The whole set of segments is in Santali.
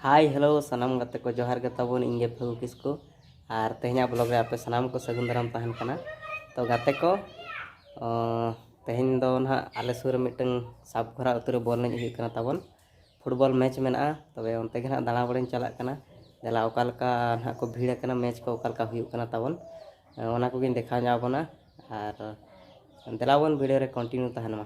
ᱦᱟᱭ ᱦᱮᱞᱳ ᱥᱟᱱᱟᱢ ᱜᱟᱛᱮ ᱠᱚ ᱡᱚᱦᱟᱨ ᱜᱮ ᱛᱟᱵᱚᱱ ᱤᱧ ᱜᱮ ᱯᱷᱟᱹᱜᱩ ᱠᱤᱥᱠᱩ ᱟᱨ ᱛᱮᱦᱮᱧᱟᱜ ᱵᱞᱚᱜ ᱨᱮ ᱟᱯᱮ ᱥᱟᱱᱟᱢ ᱠᱚ ᱥᱟᱹᱜᱩᱱ ᱫᱟᱨᱟᱢ ᱛᱟᱦᱮᱱ ᱠᱟᱱᱟ ᱛᱚ ᱜᱟᱛᱮ ᱠᱚ ᱛᱮᱦᱮᱧ ᱫᱚ ᱱᱟᱦᱟᱜ ᱟᱞᱮ ᱥᱩᱨ ᱨᱮ ᱢᱤᱫᱴᱟᱝ ᱥᱟᱵ ᱠᱷᱚᱨᱟ ᱟᱹᱛᱩ ᱨᱮ ᱵᱚᱞ ᱮᱱᱮᱡ ᱦᱩᱭᱩᱜ ᱠᱟᱱᱟ ᱛᱟᱵᱚᱱ ᱯᱷᱩᱴᱵᱚᱞ ᱢᱮᱪ ᱢᱮᱱᱟᱜᱼᱟ ᱛᱚᱵᱮ ᱚᱱᱛᱮ ᱜᱮ ᱱᱟᱦᱟᱜ ᱫᱟᱬᱟ ᱵᱟᱲᱟᱧ ᱪᱟᱞᱟᱜ ᱠᱟᱱᱟ ᱫᱮᱞᱟ ᱚᱠᱟ ᱞᱮᱠᱟ ᱱᱟᱦᱟᱜ ᱠᱚ ᱵᱷᱤᱲ ᱟᱠᱟᱱᱟ ᱢᱮᱪ ᱠᱚ ᱚᱠᱟ ᱞᱮᱠᱟ ᱦᱩᱭᱩᱜ ᱠᱟᱱᱟ ᱛᱟᱵᱚᱱ ᱚᱱᱟ ᱠᱚᱜᱮᱧ ᱫᱮᱠᱷᱟᱣ ᱧᱚᱜ ᱟᱵᱚᱱᱟ ᱟᱨ ᱫᱮᱞᱟ ᱵᱚᱱ ᱵᱷᱤᱰᱤᱭᱳ ᱨᱮ ᱠᱚᱱᱴᱤᱱᱤᱭᱩ ᱛᱟᱦᱮᱱ ᱢᱟ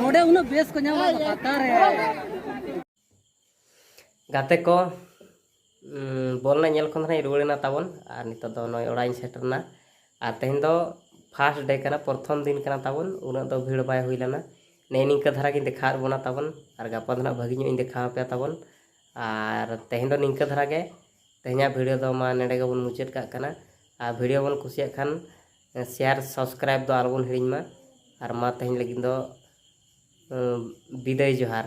ᱱᱚᱰᱮ ᱩᱱᱟᱹᱜ ᱵᱮᱥ ᱠᱚ ᱧᱟᱢᱟ ᱯᱟᱛᱟ ᱨᱮ ᱜᱟᱛᱮ ᱠᱚ ᱵᱚᱞ ᱨᱮᱱᱟᱜ ᱧᱮᱞ ᱠᱷᱚᱱ ᱫᱚ ᱨᱩᱣᱟᱹᱲᱮᱱᱟ ᱛᱟᱵᱚᱱ ᱟᱨ ᱱᱤᱛᱚᱜ ᱫᱚ ᱱᱚᱜᱼᱚᱭ ᱚᱲᱟᱜ ᱤᱧ ᱥᱮᱴᱮᱨᱱᱟ ᱟᱨ ᱛᱮᱦᱮᱧ ᱫᱚ ᱯᱷᱟᱥᱴ ᱰᱮ ᱠᱟᱱᱟ ᱯᱨᱚᱛᱷᱚᱢ ᱫᱤᱱ ᱠᱟᱱᱟ ᱛᱟᱵᱚᱱ ᱩᱱᱟᱹᱜ ᱫᱚ ᱵᱷᱤᱲ ᱵᱟᱭ ᱦᱩᱭ ᱞᱮᱱᱟ ᱱᱮᱜᱼᱮ ᱱᱤᱝᱠᱟᱹ ᱫᱷᱟᱨᱟ ᱜᱤᱧ ᱫᱮᱠᱷᱟᱣᱟᱫ ᱵᱚᱱᱟ ᱛᱟᱵᱚᱱ ᱟᱨ ᱜᱟᱯᱟ ᱫᱚ ᱱᱟᱜ ᱵᱷᱟᱹᱜᱤ ᱧᱚᱜ ᱤᱧ ᱫᱮᱠᱷᱟᱣ ᱟᱯᱮᱭᱟ ᱛᱟᱵᱚᱱ ᱟᱨ ᱛᱮᱦᱮᱧ ᱫᱚ ᱱᱤᱝᱠᱟᱹ ᱫᱷᱟᱨᱟ ᱜᱮ ᱛᱮᱦᱮᱧᱟᱜ ᱵᱷᱤᱰᱤᱭᱳ ᱫᱚ ᱢᱟ ᱱᱚᱰᱮ ᱜᱮᱵᱚᱱ ᱢᱩᱪᱟᱹᱫ ᱠᱟᱜ ᱠᱟᱱᱟ ᱟᱨ ᱵᱷᱤᱰᱤᱭᱳ ᱵᱚᱱ ᱠᱩᱥᱤᱭᱟᱜ ᱠᱷᱟᱱ ᱥᱮᱭᱟᱨ ᱥᱟᱵᱥᱠᱨᱟᱭᱤᱵ ᱫᱚ ᱟᱞᱚ ᱵᱚᱱ ᱦᱤᱲᱤᱧ ᱢᱟ ᱟᱨ ᱢᱟ ᱛᱮᱦᱮᱧ ᱞᱟᱹᱜᱤᱫ ᱫᱚ ᱵᱤᱫᱟᱹᱭ ᱡᱚᱦᱟᱨ